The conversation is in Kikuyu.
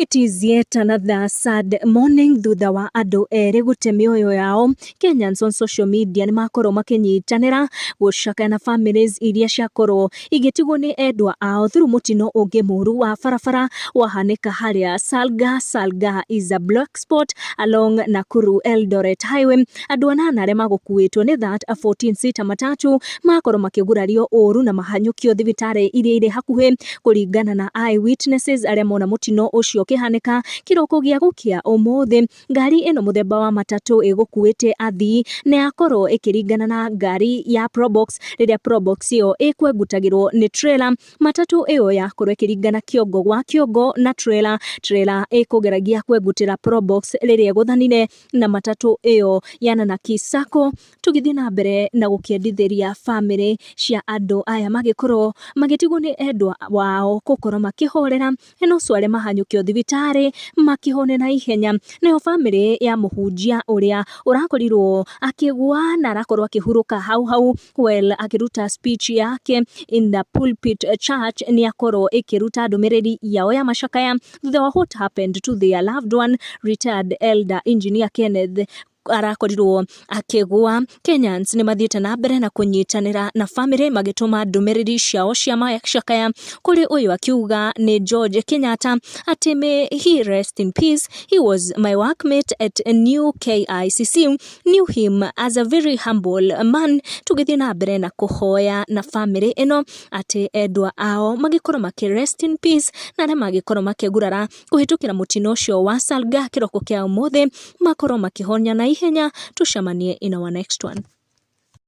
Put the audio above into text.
It is yet another sad morning thutha wa andũ erĩ gũte mĩoyo yao Kenyans on social media nĩ makorwo makĩnyitanĩra gũcakaya na families iria ciakorwo igĩtigwo nĩ endwa ao through mũtino ũngĩ mũru wa barabara wahanĩka harĩa Salga Salga is a black spot along Nakuru Eldoret highway andũ anana arĩa magũkuĩtwo nĩ that 14 sita matatu makorwo makĩgurario ũru na mahanyũkio thibitarĩ iria irĩ hakuhĩ kũringana na eyewitnesses arĩa mona mũtino ũcio ũkĩhanĩka kĩroko gĩa gũkĩa ũmũthĩ ngari ĩno mũthemba wa matatũ ĩgũkuĩte athii na yakorwo ĩkĩringana na ngari ya probox rĩrĩa probox ĩyo ĩkwengutagĩrwo nĩ trailer matatũ ĩyo yakorwo ĩkĩringana kĩongo gwa kĩongo na trailer trailer ĩkũgeragia kwengutĩra probox rĩrĩa ĩgũthanire na matatũ ĩyo yanana kisako Tũgĩthiĩ na mbere na gũkĩendithĩria bamĩrĩ cia andũ aya magĩkorwo magĩtigwo nĩ endwa wao gũkorwo makĩhorera na ũcio arĩ mahanyũkio thibitarĩ makĩhone na ihenya. Nayo bamĩrĩ ya mũhunjia ũrĩa ũrakorirwo akĩgwa na arakorwo akĩhurũka hau hau well akĩruta speech yake in the pulpit church nĩ akorwo ĩkĩruta ndũmĩrĩri yao ya macakaya thutha wa what happened to their loved one retired elder engineer Kenneth arakorirwo akĩgwa kenyans nĩ mathiĩte na mbere na kũnyitanĩra na bamĩrĩ magĩtũma ndũmĩrĩri ciao cia macakaya kũrĩ ũyũ akiuga nĩ george kenyatta atĩ may he rest in peace he was my workmate at new kicc knew him as a very humble man tũgĩthiĩ na mbere na kũhoya na bamĩrĩ ĩno atĩ endwa ao magĩkorwo makĩ rest in peace na arĩa magĩkorwo makĩgurara kũhĩtũkĩra mũtino ũcio wa salga kĩroko kĩa ũmũthĩ makorwo makĩhonia na ihenya tũcemanie in our next one